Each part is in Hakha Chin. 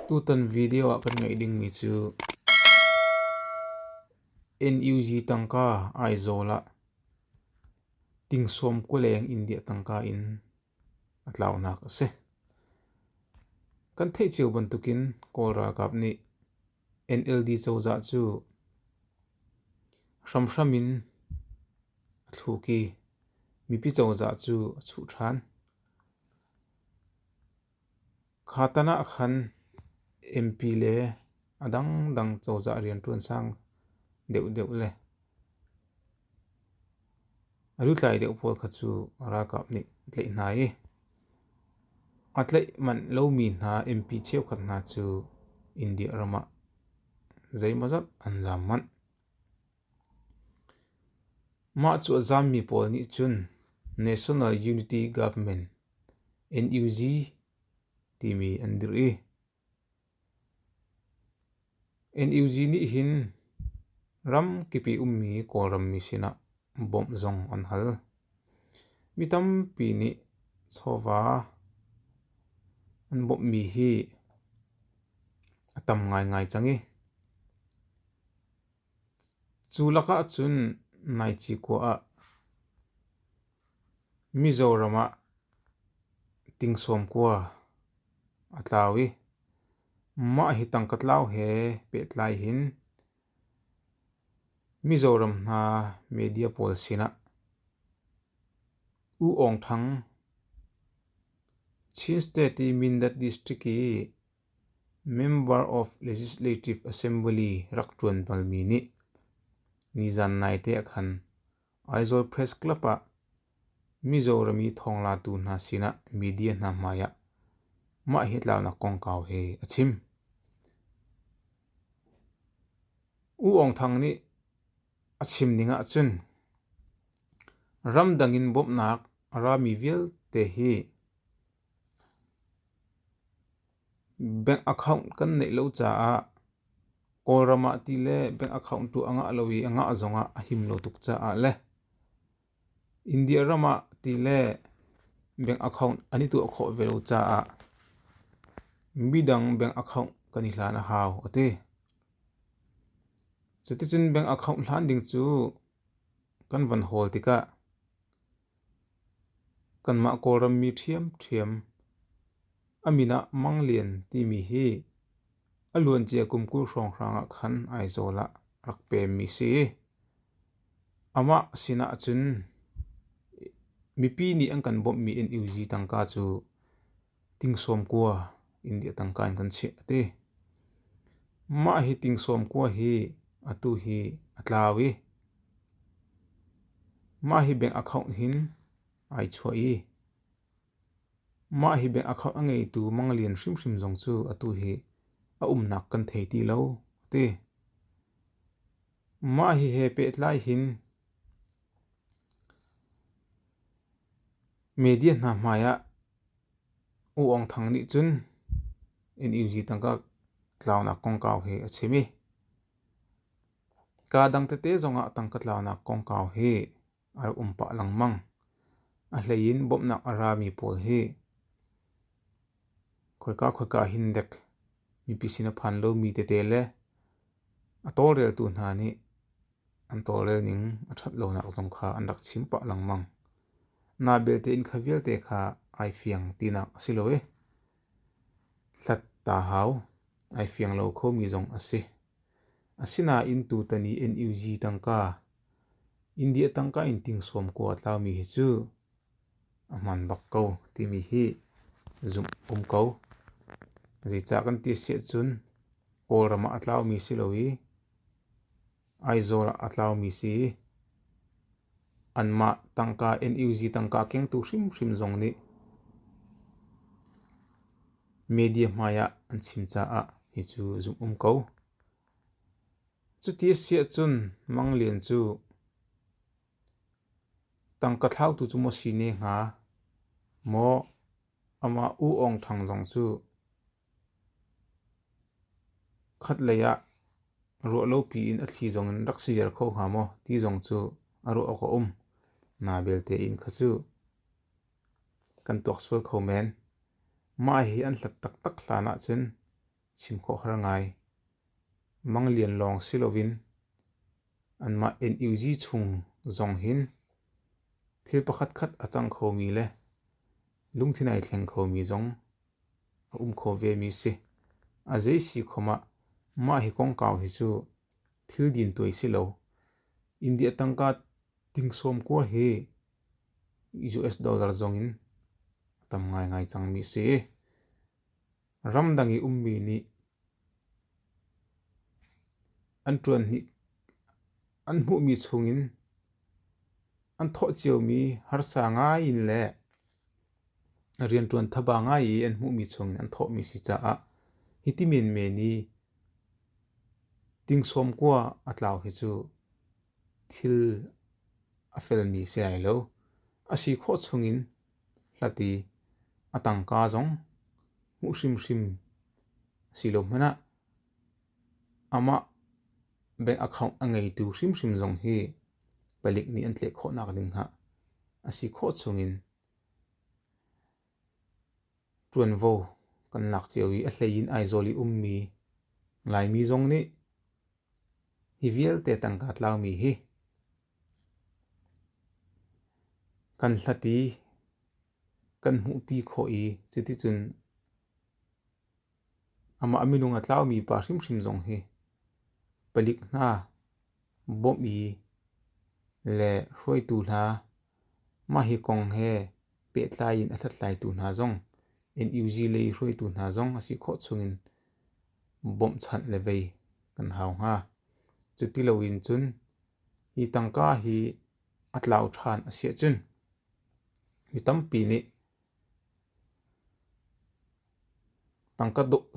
Tutan video ah kan ngeih dingmi cu NUG tangka Aizawl ah Tingsawm Kuleng India tangka in a tlaunak a si. Kan theih cio bantukin Kawl ralkap nih NLD cozah cu hramhram in a thluk i mipi cozah cu a chuh ṭhan. Kha tan ah khan MP le a dangdang cozah rianṭuan sang deuhdeuh le a lutlai deuh pawl kha cu ralkap nih a tlaih hna i a tlaih manh lomi hna MP cheukhat hna cu India ram ah zeimawzat an zaam manh. Mah cu a zaammi pawl nih cun National Unity Government NUG timi an dirh i NUG nih hin ramkip i ummi Kawlrammi sinah bawmh zong an hal. Mi tampi nih chawva an bawmhmi hi a tam ngaingai cang i Cu lakah cun Ngaici khua ah Mizoram ah tingsawm khua a tlau i mah hi tangka tlau he pehtlai hin Mizoram hna media pawl sinah U Aung Thang Chin State i Mindat District i Member of Legislative Assembly rak ṭuan balmi nih nizan naite ah khan Aizawl Press Club ah Mizorami thawnglatu hna sinah media hna hmaiah mah hi tlaunak kongkau he a chim. U Aung Thang nih a chim ning ahcun ramdang in bawmhnak a rami vialte hi Bank account kan neih lo caah Kawlram ah ti le bank account tu a ngah lo i a ngah zong ah a him lo tuk caah le India ram ah ti le bank account an i tuah khawh ve lo caah midang bank account kan i hlan a hau a ti. Cuticun bank account hlan ding cu kan van hawl tikah Kanmah Kawlrammi ṭhiamṭhiam, a min ah Mang Lian timi hi a luancia kum kul hrawnghrang ah khan Aizawl ah rak pemmi si. Amah sinah cun mipi nih an kan bawmhmi NUG tangka cu Tingsawm kua India tangka in kan chiah a ti. Mah hi tingsawm kua hi atu hi a tlau i mah hi bank account hin ai chuah i mah hi bank account a ngeitu manglian hrimhrim zong cu atu hi a umnak kan thei ti lo a ti. Mah hi he pehtlai hin media hna hmai ah U Aung Thang nih cun NUG tangka tlaunak kongkau hi a chim i kaa dang tete zongah tangka tlaunak kongkau hi a rak um pah lengmang. A hleiin bawmhnak a rami pawl hi khoika khoika hin dek mipi sin a phan lomi tete le a tawlreltu hna nih An tawlrel ning a ṭhat lonak zong kha an rak chim pah lengmang. Naa belte in kha vialte kha ai fiang tinak a si lo i hlat ta hau ai fiang lo khomi zong a si. Asinain tutan i NUG tangka, India tangka in tingsawm kua a tlaumi hi cu A hmaan bak ko timi hi zumh um ko. Zeicah kan ti siah cun Kawlram ah a tlaumi si lo i Aizawl ah a tlaumi si i anmah tangka NUG tangka kengtu hrimhrim zong nih media hmai ah an chim caah hi cu zumh um ko. Cuti a si ahcun Mang Lian cu Tangka thlautu cu maw si ne hnga? Maw, amah U Aung Thang zong cu khatlei ah ruah lopi in a thli zong in rak si ziar kho hnga maw ti zong cu a ruah awk a um. Na belte in kha cu kan tuak sual kho men. Mah hi an hlat taktak hlan ahcun chim khawh har ngai. Manglian lawng si loin anmah NUG chung zong hin thil pakhatkhat a cang khomi le lungthin ai thleng khomi zong a um kho vemi si. A zei si khom ah mah hi kongkau hi cu thil din tuai si lo. India tangka tingsawm kua hi US dollar zong in tam ngai ngai cangmi si. Ramdang i ummi nih an ṭuan hni an hmuhmi chungin an thawh ciomi harsa ngai in le rianṭuan thaba ngai i an hmuhmi chungin an thawhmi si caah hiti menmen i tingsawm kua a tlau hi cu thil a felmi si ai lo. A si khawh chungin Hlati a tangka zong hmuh hrimhrim a si lo hmanh ah amah bank account a ngeitu hrimhrim zong hi palik nih an tleh khawhnak ding ah a si khawh chung in ṭuanvo kan lak cio i a hlei in Aizawl i ummi Laimi zong nih hi vialte tangka tlaumi hi Kan hlat i kan hmuhpi khawh i cuticun amah minung a tlaumi pa hrimhrim zong hi palik hna bawmh i le hruaitu hna mah hi kong he pehtlai in a hlathlaitu hna zong NUG lei hruaitu hna zong a si khawh chungin bawmhchanh le vei kan hau hnga. Cu ti loin cun Hi tangka hi a tlau ṭhan a si ahcun mi tampi nih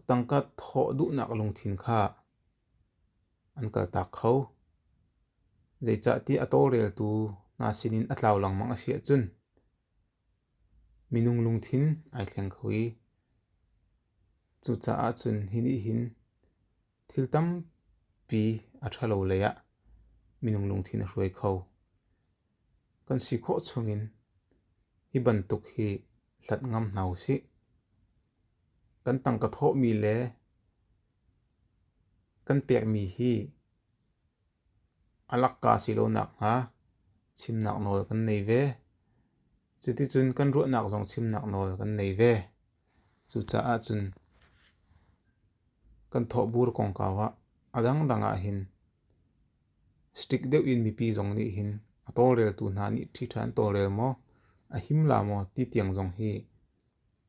tangka thawh duhnak lungthin kha an kaltak kho. Zeicahtiah a tawlreltu hna sinin a tlau lengmang a si ahcun minung lungthin ai thleng kho i cucaah cun hi nih hin Thil tampi a ṭhalo lei ah minung lungthin a hruai kho. Kan si khawh chungin hi bantuk hi hlat ngam hna usih. Kan tangka thawhmi le kan pekmi hi a lakka si lo nakhnga chimnak nawl kan nei ve. Cuticun kan ruahnak zong chimnak nawl kan nei ve. Cucaah cun kan thawhbur kongkau ah a dangdang ahhin stick deuh in mipi zong nih hin a tawlreltu hna nih ṭhiṭha an tawlrel maw, a him la maw ti tiang zong hi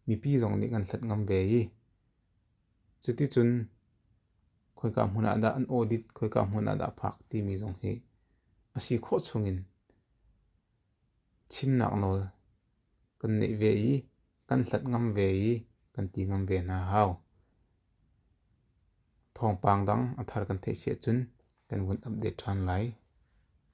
mipi zong nih kan hlat ngam ve i cuticun khoika hmun ah dah an audit, khoika hmun ah dah phak timi zong hi a si khawh chungin chimnak nawl kan neih ve i kan hlat ngam ve i kan ti ngam ve hna a hau. Thawngpang dang a thar kan theih si ahcun kan vun update ṭhan lai.